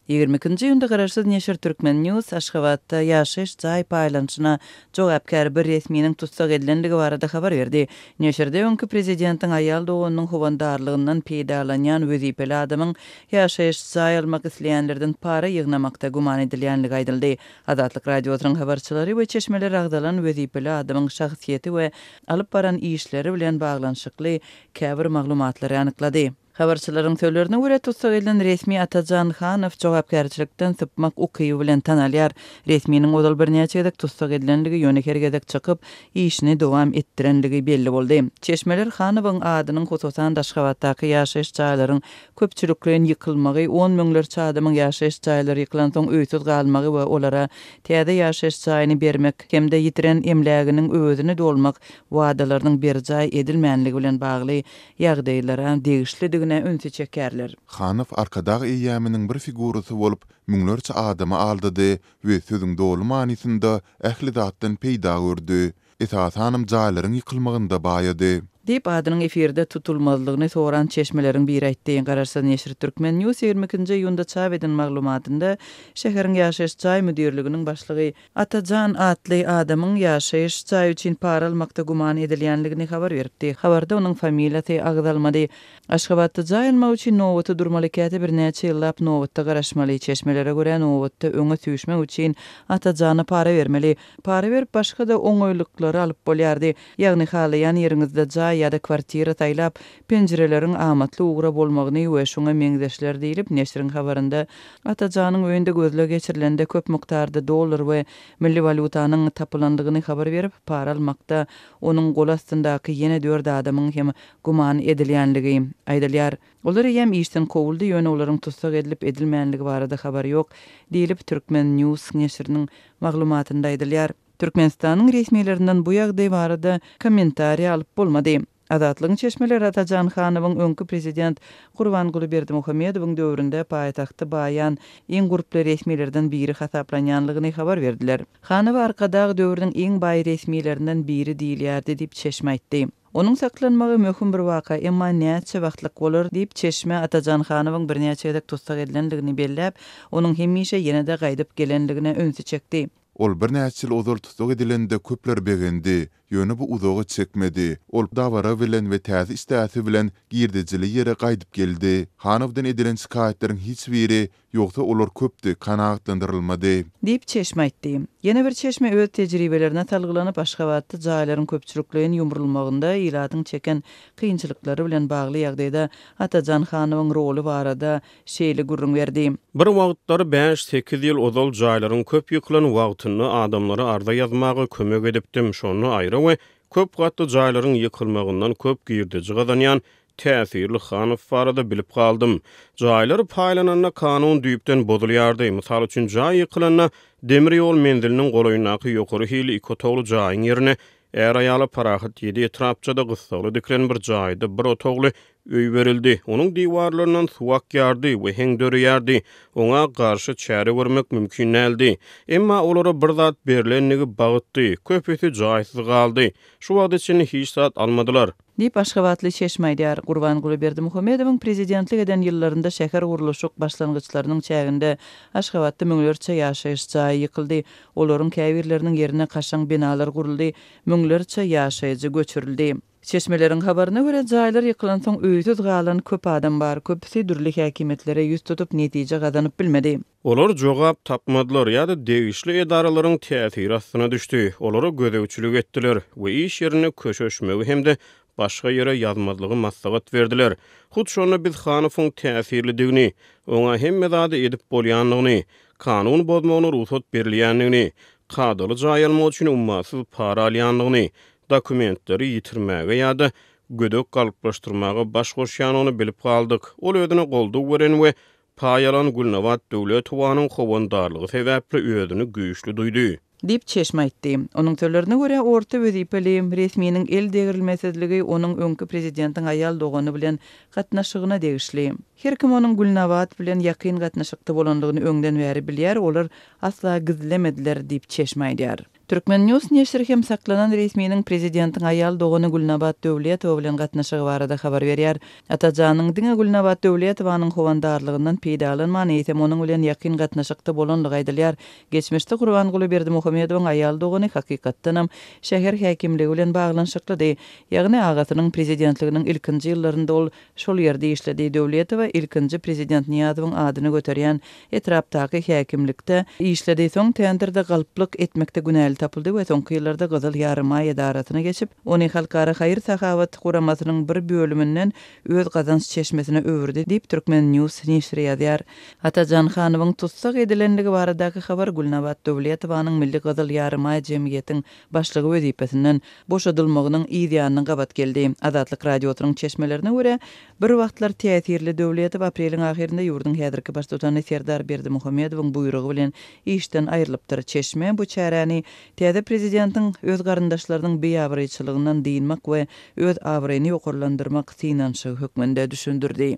Ýigrimi ikinji iýunda garaşsyz neşir Turkmen. News Aşgabatda ýaşaýyş jaý paýlanyşyna jogapkär bir resminiň tussag edilendigi barada habar berdi. Neşirde öňki prezidentiň aýal doganynyň howandarlygyndan peýdalanýan wezipeli adamyň ýaşaýyş jaý almak isleýänlerden para ýygnamakda güman edilýänligi aýdyldy. Azatlyk Radiosynyň habarçylary we çeşmeleri agzalan wezipeli adamyň şahsyýeti we alyp baran işleri bilen baglanyşykly käbir maglumatlary anyklady. Habarçylaryň sözlerine görä, tussag edilen resmi Atajan Hanow jogapkärçilikden sypmak ukyby bilen tanalýar. Resminiň ozal birnäçe gezek tussag edilenligi, ýöne her gezek çykyp, işini dowam etdirenligi belli boldy. Çeşmeler Hanowyň adynyň hususan Aşgabatdaky ýaşaýyş jaýlaryň köpçülikleýin ýykylmagy, on müňlerçe adamyň ýaşaýyş jaýlary ýykylansoň öýsüz galmagy we olara täze ýaşaýyş jaýyny bermek hem-de ýitiren emläginiň öwezini dolmak wadalarynyň berjaý edilmänligi bilen bagly ýagdaýlara degişlidigine ünsi çekerler. Hanow Arkadag eýýamynyň bir figurasy bolup, müňlerçe adamy aldady we sözüň doly manysynda ähli zatdan peýda gördi. Esasanam jaýlaryň ýykylmagynda baýady. Diýip, adynyň efirde tutulmazlygyny soran çeşmeleriň biri aýtdy. Garaşsyz neşir Türkmen. News ýigrimi ikinji iýunda çap eden maglumatynda şäheriň ýaşaýyş jaý müdirliginiň başlygy, Atajan atly adamyň ýaşaýyş jaýy üçin para almakda güman edilýändigini habar beripdi. Habarda onuň familiýasy agzalmady. Aşgabatda jaý almak üçin nobata durmaly käte birnäçe ýyllap nobatda garaşmaly. Çeşmelere görä, nobatda öňe süýşmek üçin Atajana para bermeli. Para berip başga-da oňaýlyklary alyp bolýardy. Ýagny halaýan ýeriňizde jaý ýa-da kwartira saýlap, penjireleriň amatly ugra bolmagyny we şuňa meňzeşler diýlip, neşiriň habarynda Atajanyň öýünde gözleg geçirilende köp mukdarda dollar we milli walýutanyň tapylandygyny habar berip, para almakda onuň gol astyndaky ýene dört adamyň hem güman edilýänligi aýdylýar. Olar eýýäm işden kowuldy, ýöne olaryň tussag edilip-edilmänligi barada habar ýok, diýlip, Turkmen. News neşiriniň maglumatynda aýdylýar. Türkmenistanyň resmilerinden bu ýagdaý barada kommentariýa alyp bolmady. Azatlygyň çeşmeleri Atajan Hanowyň öňki prezident Gurbanguly Berdimuhamedowyň döwründe paýtagty baýan iň gurply resmilerden biri hasaplanýanlygyny habar berdiler. Hanowa Arkadag döwrüniň iň baý resmilerinden biri diýilýärdi diýip çeşme aýtdy. Onuň saklanmagy möhüm bir waka, emma näçe wagtlyk bolar diýip çeşme Atajan Hanowyň birnäçe gezek tussag edilenligini belläp, onuň hemişe ýene-de gaýdyp gelenligine ünsi çekdi. Ol birnäçe ýyl ozal tussag edilende köpler begendi, Ýöne bu uzaga çekmedi. Ol dabara bilen we täze işdäsi bilen girdejili ýere gaýdyp geldi. Hanowdan edilen şikaýatlaryň hiç biri, ýogsa olar köpdi, kanagatlandyrylmady. Diýip, çeşme aýtdy. Ýene bir çeşme öz tejribelerine salgylanyp, Aşgabatda jaýlaryň köpçülikleýin ýumrulmagynda ilatyň çeken kynçylyklary bilen bagly ýagdaýda Atajan Hanowyň roly barada şeýle gürrüň berdi. Bir wagtlar bäş-sekiz ýyl ozal jaýlaryň köp ýykylan wagtynda adamlara arza ýazmaga kömek edipdim, şonda aýra we köp gatly jaýlaryň ýykylmagyndan köp girdeji gazanýan täsirli Hanow barada bilip galdym. Jaýlar paýlananda kanun düýpden bozulýardy. Mysal üçin jaý ýykylanda demir ýol menziliniň golaýyndaky ýokary hilli iki otagly jaýyň ýerine är-aýala parahat ýedi etrapçada gyssagly dikilen bir jaýda bir otagly Öý berildi. Onuň diwarlaryndan suw akýardy we heň döreýärdi. Oňa garşy çäre görmek mümkin däldi. Emma olara bir zat berlendigi bagtdy. Köpüsi jaýsyz galdy. Şu wagta çenli hiç zat almadylar. Diýip, aşgabatly çeşme aýdýar. Gurbanguly Berdimuhamedowyň prezidentlik eden ýyllarynda şäher gurluşyk başlangyçlarynyň çäginde Aşgabatda müňlerçe ýaşaýyş jaýy ýykyldy. Olaryň käbirleriniň ýerine kaşaň binalar guruldy. Müňlerçe ýaşaýjy göçürildi. Çeşmeleriň habaryna görä, jaýlar ýykylansoň öýsüz galan köp adam bar, köpüsi dürli häkimiýetlere ýüz tutup, netije gazanyp bilmedi. Olar jogap tapmadylar ýa-da degişli edaralaryň täsiri astyna düşdi, olara gözegçilik etdiler we iş ýerinde köşeşmegi hem-de başga ýere ýazmazlygy maslahat berdiler. Hut şonda biz Hanowyň täsirlidigini, oňa hemme zady edip bolýandygyny, kanun bozmagyna rugsat berilýändigini, kadaly jaý almak üçin ummasyz para alýandygyny, dokumentleri ýitirmäge ýa-da gödek galplaşdyrmaga baş goşýanyny bilip galdyk. Ol özüne goldaw beren we paý alan Gülnabat Döwletowanyň howandarlygy sebäpli özüni güýçli duýdy. Diýip, çeşme aýtdy. Onuň sözlerine görä, orta wezipeli resminiň el degrilmesizligi onuň öňki prezidentiň aýal dogany bilen gatnaşygyna degişli. Her kim onuň Gülnabat bilen ýakyn gatnaşykda bolandygyny öňden bäri bilýär, olar asla gizlemediler diýip, çeşme aýdýar. Turkmen. News neşiri hem saklanan resminiň prezidentiň aýal dogany Gülnabat Döwletowa bilen gatnaşygy barada habar berýär. Atajanyň diňe Gülnabat Döwletowanyň howandarlygyndan peýdalanman, eýsem onuň bilen ýakyn gatnaşykda bolandygy aýdylýar. Geçmişde Gurbanguly Berdimuhamedowyň aýal dogany hakykatdanam şäher häkimligi bilen baglanyşyklydy. Ýagny agasynyň prezidentliginiň ilkinji ýyllarynda ol Şol ýerde işle diýdi Döwletowa, ilkinji prezident Nyýazowyň adyny göterýän etrapdaky häkimlikde işledi, soň tenderde galplyk etmekde günäli tapyldy we soňky ýyllarda Gyzyl Ýarymaý edarasyna geçip, ony Halkara haýyr-sahawat guramasynyň bir bölüminden öz gazanç çeşmesine öwürdi diýip, Turkmen. News neşiri ýazýar. Atajan Hanowyň tussag edilenligi baradaky habar Gülnabat Döwletowanyň Milli Gyzyl Ýarymaý jemgyýetiň başlygy wezipesinden boşadylmagynyň yz ýanynyň gabat geldi. Azatlyk Radiosynyň çeşmelerine görä, bir wagtlar täsirli Döwletow apreliň ahyrynda ýurduň häzirki Baştutany Serdar Berdimuhamedowyň buýrugy bilen işden aýrylypdyr. Çeşme bu çäräni täze prezidentiň öz garyndaşlarynyň biabraýçylygyndan dynmak we öz abraýyny ýokarlandyrmak synanyşygy hökmünde düşündirdi.